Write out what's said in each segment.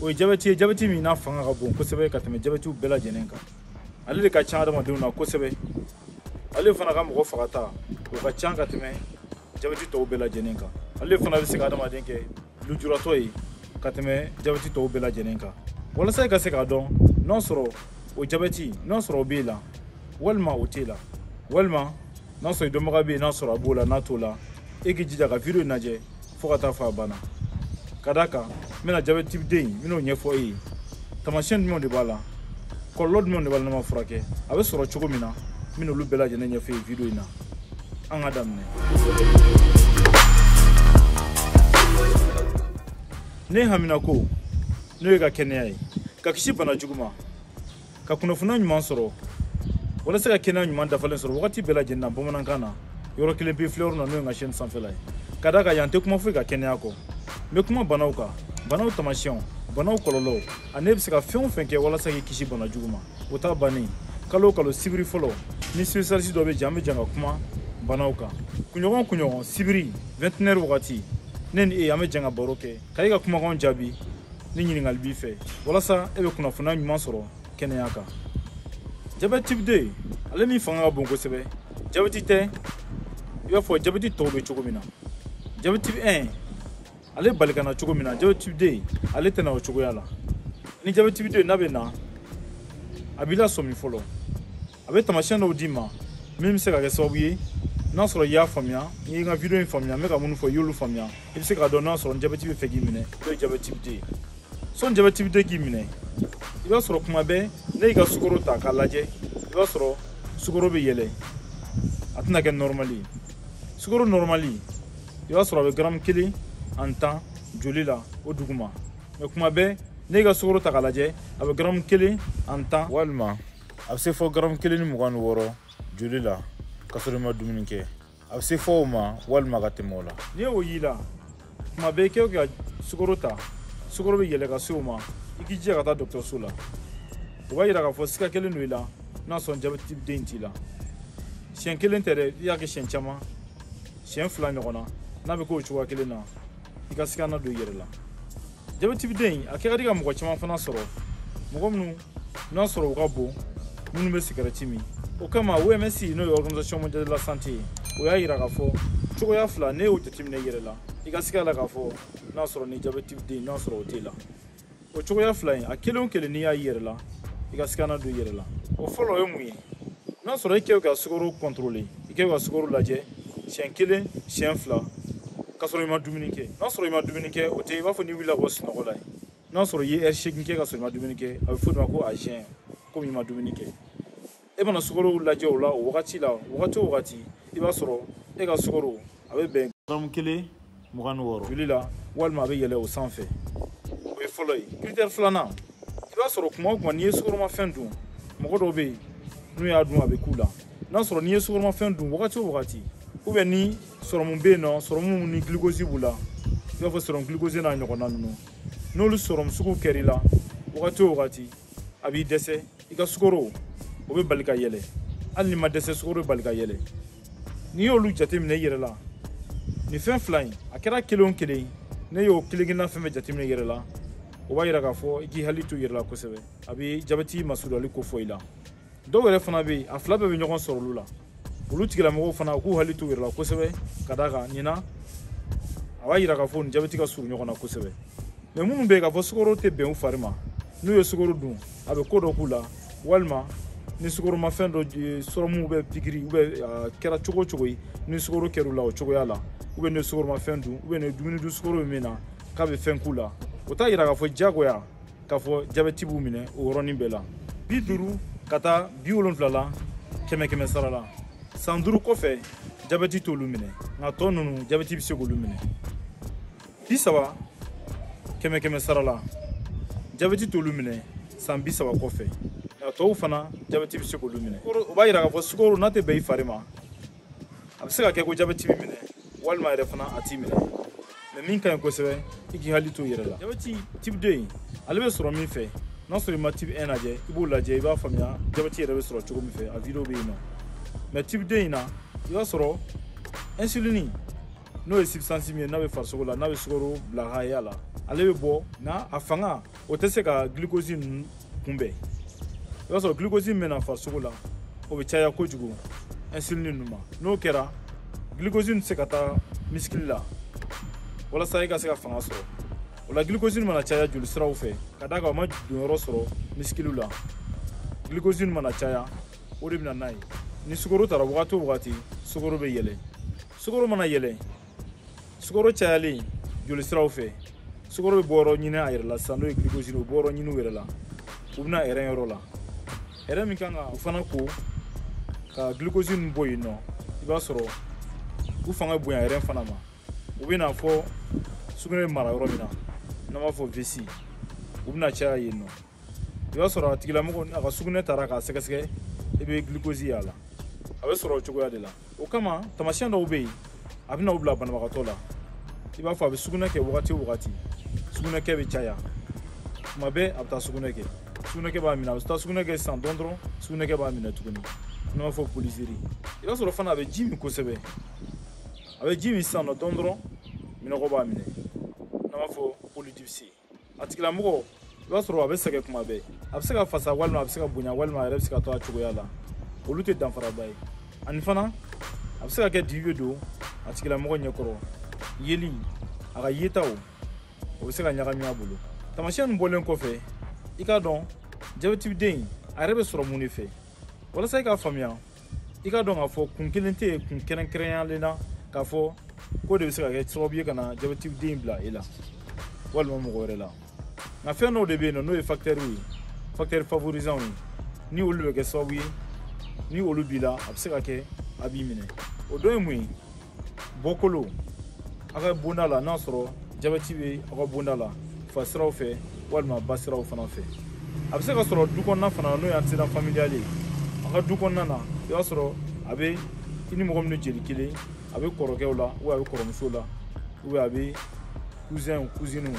o ye jabɛti ye jabɛti min n'a fanga ka bon kosɛbɛ ka tɛmɛ jabɛtiw bɛɛ lajɛlen kan ale de ka ca adamadenw na kosɛbɛ ale fana ka mɔgɔ fagata o ka ca ka tɛmɛ jabɛti tɔw bɛɛ lajɛlen kan ale fana bɛ se ka adamaden kɛ lujuratɔ ye ka tɛmɛ jabɛti tɔw bɛɛ lajɛlen kan walasa i ka se k'a dɔn n'a sɔrɔ o jabɛti n'a sɔrɔ o b'e la walima o t'e la walima n'a sɔrɔ i dɔnbaga bɛ yen n'a sɔrɔ a b'o la n'a t'o la e k'i jija ka video in lajɛ fo ka taa fɔ a banna ka d'a kan n bɛna jabɛti type 2 n bɛn'o ɲɛfɔ e ye taamasiyɛn jumɛnw de b'a la kɔlɔlɔ jumɛnw de b'a la n'a ma furakɛ a bɛ sɔrɔ cogo min na n bɛna olu bɛɛ lajɛlen ɲɛfɔ e ye video in na an ka daminɛ ne haminako n'o y'e ka kɛnɛya ye ka kisi bana jugu ma ka kunnafoniya ɲuman sɔrɔ walasa ka kɛnɛya ɲuman dafalen sɔrɔ wagati bɛɛ lajɛlen na bamanankan na yɔrɔ kelen pe filɛyɔrɔ na n'o ye n ka chaîne sanfɛla ye ka d'a kan yan n tɛ kuma foyi kan kɛnɛya kɔ n bɛ kuma banaw kan banaw taamasiyɛnw banaw kɔlɔlɔw ani e bɛ se ka fɛn o fɛn kɛ walasa k'i kisi bana jugu ma o t'a bannen kalo o kalo sibiri fɔlɔ ni spécialiste dɔ bɛ jɛ an bɛ jɛ ka kuma banaw kan kunɲɔgɔn kunɲɔgɔn sibiri 21h wagati ne ni e an bɛ jɛ ka baro kɛ ka e ka kumakanw jaabi ni ɲininkali b'i fɛ walasa e bɛ kunnafoniya ɲuman sɔrɔ kɛnɛya kan jabɛti type 2 ale min fanga ka bon kosɛbɛ jabɛti tɛ i b'a fɔ jabɛti tɔw bɛ cogo min na jabɛti type 1 ale bali ka na cogo min na jabɛti type 2 ale tɛ na o cogoya la ni jabɛti type 2 n'a bɛ na a b'i lasɔmi fɔlɔ a bɛ taamasiyɛn dɔw d'i ma min bɛ se ka kɛ sababu ye n'a sɔrɔ i y'a faamuya n'i ye n ka video in faamuya n bɛ ka minnu fɔ i y'olu faamuya i bɛ se k'a dɔn n'a sɔrɔ jabɛti bɛ fɛ k'i minɛ n'o ye jabɛti type 2 ye sɔni jabɛti type 2 k'i minɛ i b'a sɔrɔ kuma bɛɛ n'e y'i ka sukoro ta k'a lajɛ i b'a sɔrɔ sukoro bɛ yɛlɛ a tɛna kɛ nɔrɔmali ye sukoro nɔrɔmali i b'a sɔrɔ a bɛ garamu kelen ani tan joli la o duguma mais kuma bɛɛ n'e y'i ka sukoro ta k'a lajɛ a bɛ garamu kelen ani tan walima a bɛ se fɔ garamu kelen ni mugan ni wɔɔrɔ joli la ka sɔrɔ i ma dumuni kɛ a bɛ se fɔ o ma walima ka tɛmɛ o la n'i y'o y'i la kuma bɛɛ i kɛ o ka sukoro ta sukoro bɛ yɛlɛ ka se o ma i k'i jija ka taa dɔgɔtɔrɔso la o b'a yira k'a fɔ siga kɛlen don i la n'a sɔrɔ jabɛti type 2 t'i la siɲɛ kelen tɛ dɛ i y'a kɛ siɲɛ caman siɲɛ fila ɲɔgɔn na n'a bɛ k'o cogoya kelen na i ka siga na don i yɛrɛ la jabɛti type 2 a kɛ ka di ka mɔgɔ caman fana sɔrɔ mɔgɔ minnu n'a sɔrɔ u ka bon minnu bɛ sigarɛti min o kama oms n'o ye organisation mondiale de la santé ye o y'a yira k'a fɔ cogoya fila n'i y'o jateminɛ i yɛrɛ la i ka siga la k'a fɔ n'a sɔrɔ ni jabɛti tibi de n'a sɔrɔ o t'e la o cogoya fila in a kelen o kelen n'i y'a y'i yɛrɛ la i ka sigana don i yɛrɛ la o fɔlɔ o ye mun ye n'a sɔrɔ i k'i ka sukaro kɔntorole i k'i ka sukaro lajɛ siɲɛ kelen siɲɛ fila k'a sɔrɔ i ma dumuni kɛ n'a sɔrɔ i ma dumuni kɛ o tɛ i b'a fɔ n'i wulila ka bɔ sunɔgɔ la ye n'a sɔrɔ i ye ɛri seegin kɛ ka sɔrɔ i ma dumuni kɛ a bɛ fɔ o de ma ko azɛn komi i ma dumuni kɛ e mana sukaro lajɛ o la o wagati la wagati o wagati i b'a sɔrɔ e ka sukaro a bɛ bɛn garamu kelen mugan ni wɔɔrɔ joli la walima a bɛ yɛlɛ o sanfɛ o ye fɔlɔ ye kiritɛri filanan i b'a sɔrɔ kuma o kuma n'i ye sukoromafɛn dun mɔgɔ dɔw bɛ yen n'u y'a dun a bɛ k'u la n'a sɔrɔ n'i ye sukoromafɛn dun wagati o wagati ou bien ni sɔrɔmu bɛ yen nɔ sɔrɔmu ni gilikozi b'u la i b'a fɔ sɔrɔmu gilikozi n'a ɲɔgɔnna ninnu n'olu sɔrɔmu sugu kɛr'i la wagati o wagati a b'i dɛsɛ i ka sukoro o bɛ bali ka yɛlɛ hali n'i ma dɛsɛ sukoro bɛ bali ka yɛlɛ n'i y'olu jateminɛ i yɛrɛ la nin fɛn fila in a kɛra kelen o kelen n'i y'o kelen kelenna fɛn fɛn jateminɛ i yɛrɛ la o b'a yira k'a fɔ i k'i hakili to i yɛrɛ la kosɛbɛ a bɛ jabɛti masurunyali kofɔ i la dɔw yɛrɛ fana bɛ yen a fila bɛɛ bɛ ɲɔgɔn sɔrɔ olu la olu tigilamɔgɔw fana u k'u hakili to u yɛrɛ la kosɛbɛ ka d'a kan nin na a b'a yira k'a fɔ u ni jabɛti ka surun ɲɔgɔn na kosɛbɛ mɛ minnu bɛ yen k'a fɔ sukaro tɛ bɛn u fari ma n'u ye sukaro dun a bɛ ko dɔ k'u la walima ni sukoromafɛn dɔ sɔrɔmu ou bien pikiri ou bien a kɛra cogo o cogo ye ni sukoro kɛra u la o cogoya la ou bien n'u ye sukoromafɛn dun ou bien ni dumuni dun sukoro bɛ min na k'a bɛ fɛn k'u la o t'a yira k'a fɔ diyagoya k'a fɔ jabɛti b'u minɛ o yɔrɔnin bɛɛ la bi duuru ka taa bi wolonfila la kɛmɛ kɛmɛ sara la san duuru kɔfɛ jabɛti t'olu minɛ nka tɔ ninnu jabɛti bɛ se k'olu minɛ bi saba kɛmɛ kɛmɛ sara la jabɛti t'olu minɛ san bi saba kɔfɛ nka tɔw fana jabɛti bɛ se k'olu minɛ o b'a yira k'a fɔ sukaro n'a tɛ bɛn i fari ma a bɛ se ka kɛ ko jabɛti b'i minɛ walima yɛrɛ fana a t'i minɛ mɛ min ka ɲi kosɛbɛ i k'i hakili to i yɛrɛ la jabɛti tibi de in ale bɛ sɔrɔ min fɛ n'a sɔrɔ i ma tibi 1 lajɛ i b'o lajɛ i b'a faamuya jabɛti yɛrɛ bɛ sɔrɔ cogo min fɛ a video bɛ yen nɔ mɛ tibi de in na i b'a sɔrɔ insulini n'o ye substance min ye n'a bɛ farisogo la n'a bɛ sukaro bila haya la ale bɛ bɔ nka a fanga o tɛ se ka glucose ninnu kunbɛn i b'a sɔrɔ glucose min bɛ na farisogo la o bɛ caya kojugu insuline ninnu ma n'o kɛra glucose tɛ se ka taa misikili la walasa i ka se ka fanga sɔrɔ o la glucose mana caya jolisiraw fɛ ka d'a kan o ma donyɔrɔ sɔrɔ misikiliw la glucose mana caya o de bɛ na n'a ye ni sukoro tara wagati o wagati sukoro bɛ yɛlɛ sukoro mana yɛlɛ sukaro cayalen joli siraw fɛ sukaro bɛ bɔ yɔrɔ ɲini a yɛrɛ la sisan n'o ye glucose o bɔ yɔrɔ ɲini u yɛrɛ la u bɛ na ɛrɛn yɔrɔ la ɛrɛn min kan ka u fana ko ka glucose ninnu bɔ yen nɔ i b'a sɔrɔ u fanga bonya ɛrɛn fana ma u bɛ na fo sugunɛ bɛ mara yɔrɔ min na n'an b'a fɔ vessie u bɛna caya yen nɔ i b'a sɔrɔ a tigilamɔgɔ a ka sugunɛ taara k'a sɛgɛsɛgɛ i bɛ glucose y'a la a bɛ sɔrɔ o cogoya de la o kama tamasiyɛn dɔw bɛ yen a bɛ na u bila banabagatɔ la i b'a fɔ a bɛ sugunɛ kɛ wagati o wagati sugunɛkɛ bɛ caya tuma bɛɛ a bɛ taa sugunɛ kɛ sugunɛkɛ b'a minɛ a bɛ taa sugunɛ kɛ sisan dɔɔni dɔrɔn sugunɛkɛ b'a minɛ tuguni n'an b'a fɔ polyurie i b'a sɔrɔ fana a bɛ ji min kosɛbɛ a bɛ ji min sisan dɔɔni dɔrɔn minnɔgɔ b'a minɛ n'an b'a fɔ polydipsie a tigilamɔgɔ i b'a sɔrɔ a bɛ sɛgɛn kuma bɛɛ a bɛ se ka fasa walima a bɛ se ka bonya walima a yɛrɛ bɛ se ka to a cogoya la olu tɛ danfaraba ye ani fana a bɛ se ka kɛ dibi bɛ don a tigilamɔgɔ ɲɛ kɔrɔ yeli a ka yetaw o bɛ se ka ɲagami a bolo taamasiyɛn nin bɔlen kɔfɛ i k'a dɔn jabɛtiden a yɛrɛ bɛ sɔrɔ mun de fɛ walasa i k'a faamuya i k'a dɔn k'a fɔ kun kelen tɛ yen kun kɛrɛnkɛrɛnyalen na k'a fɔ k'o de bɛ se ka kɛ sababu ye ka na jabɛtiden bila e la walima mɔgɔ wɛrɛ la nka fɛn dɔw de bɛ yen nɔ n'o ye fakitɛriw ye fakitɛri favorizanw ye ni olu bɛ kɛ sababu ye ni olu b'i la a bɛ se ka kɛ a b'i minɛ o dɔ ye mun ye bɔkolo aw ka bonda la n'a sɔrɔ jabɛti bɛ aw ka bonda la fa siraw fɛ walima ba siraw fana fɛ a bɛ se ka sɔrɔ du kɔnɔna fana n'o ye antécédent familial ye a ka du kɔnɔna na i b'a sɔrɔ a bɛ i ni mɔgɔ minnu jeli kelen a bɛ kɔrɔkɛw la ou bien a bɛ kɔrɔmuso la ou bien a bɛ kuzɛnw kuziniw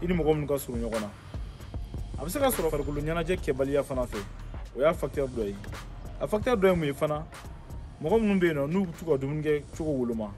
i ni mɔgɔ minnu ka surun ɲɔgɔn na a bɛ se ka sɔrɔ farikolo ɲɛnajɛ kɛbaliya fana fɛ o y'a fakitɛri dɔ ye a fakitɛri dɔ ye mun ye fana mɔgɔ minnu bɛ yen nɔ n'u t'u ka dumuni kɛcogo woloma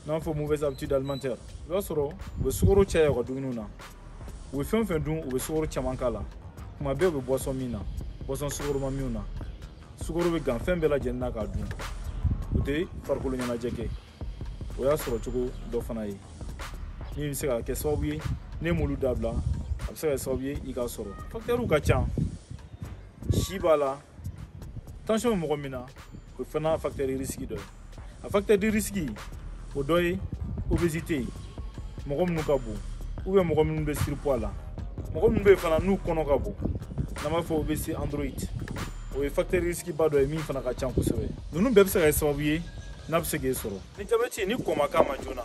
n'an b'a fɔ mauvaise habitude alimentaire i b'a sɔrɔ u bɛ sukaro caya u ka dumuniw na u bɛ fɛn o fɛn dun u bɛ sukaro caman k'a la tuma bɛɛ u bɛ boisson min na boisson sukoroma minw na sukaro bɛ gan fɛn bɛɛ lajɛlen na k'a dun u tɛ farikolo ɲɛnajɛ kɛ o y'a sɔrɔ cogo dɔ fana ye min bɛ se ka kɛ sababu ye n'e m'olu dabila a bɛ se ka kɛ sababu ye i k'a sɔrɔ fakitɛriw ka ca si b'a la tansiyɔn mɔgɔ min na o fana fakitɛri risiki dɔ ye a fakitɛri risiki o dɔ ye obésité mɔgɔ minnu ka bon ou bien mɔgɔ minnu bɛ surpoids la mɔgɔ minnu bɛ yen fana n'u kɔnɔ ka bon n'an b'a fɔ obésité androïde o ye fakitɛri risiki ba dɔ ye min fana ka ca kosɛbɛ ninnu bɛɛ bɛ se ka kɛ sababu ye n'a bɛ se k'e sɔrɔ ni jabɛti ni kɔn ma k'a ma joona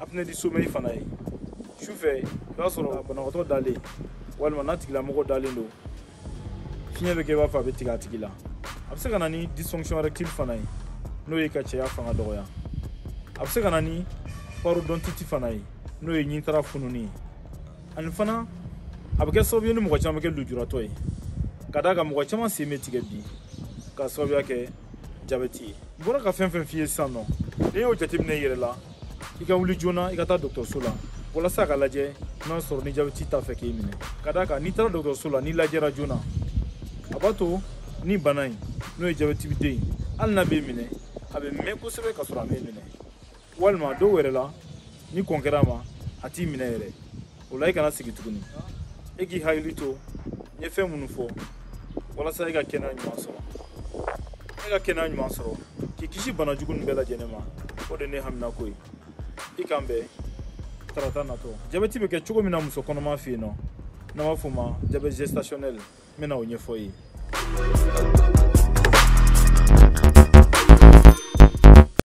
apnée du sommeil fana ye su fɛ i b'a sɔrɔ banabagatɔ dalen walima n'a tigilamɔgɔ dalen don fiɲɛ bɛ kɛ i b'a fɔ a bɛ tigɛ a tigi la a bɛ se ka na ni dysfonction érectile fana ye n'o ye ka cɛya fanga dɔgɔya a bɛ se ka na ni parodontite fana ye n'o ye ɲintara fununi ye ani fana a bɛ kɛ sababu ye ni mɔgɔ caman bɛ kɛ lujuratɔ ye ka d'a kan mɔgɔ caman sen bɛ tigɛ bi k'a sababuya kɛ jabɛti ye n bɔra ka fɛn fɛn f'i ye sisan nɔ n'i y'o jateminɛ i yɛrɛ la i ka wuli joona i ka taa dɔgɔtɔrɔso la walasa k'a lajɛ n'a sɔrɔ ni jabɛti t'a fɛ k'i minɛ ka d'a kan n'i taara dɔgɔtɔrɔso la n'i lajɛra joona a b'a to ni bana in n'o ye jabɛti type deux ye hali n'a b'i minɛ a bɛ mɛn kosɛbɛ ka sɔrɔ a m'i minɛ walima dɔw yɛrɛ la ni kɔn kɛra a ma a t'i minɛ yɛrɛ o la i kana sigi tuguni e k'i hakili to n ye fɛn minnu fɔ walasa e ka kɛnɛya ɲuman sɔrɔ e ka kɛnɛya ɲuman sɔrɔ k'i kisi bana jugu nin bɛɛ lajɛlen ma o de ne haminako ye i k'an bɛn tarata natɔ jabɛti bɛ kɛ cogo min na muso kɔnɔma fɛ yen nɔ n'an b'a fɔ o ma jabɛti gestationnel n bɛna o ɲɛfɔ i ye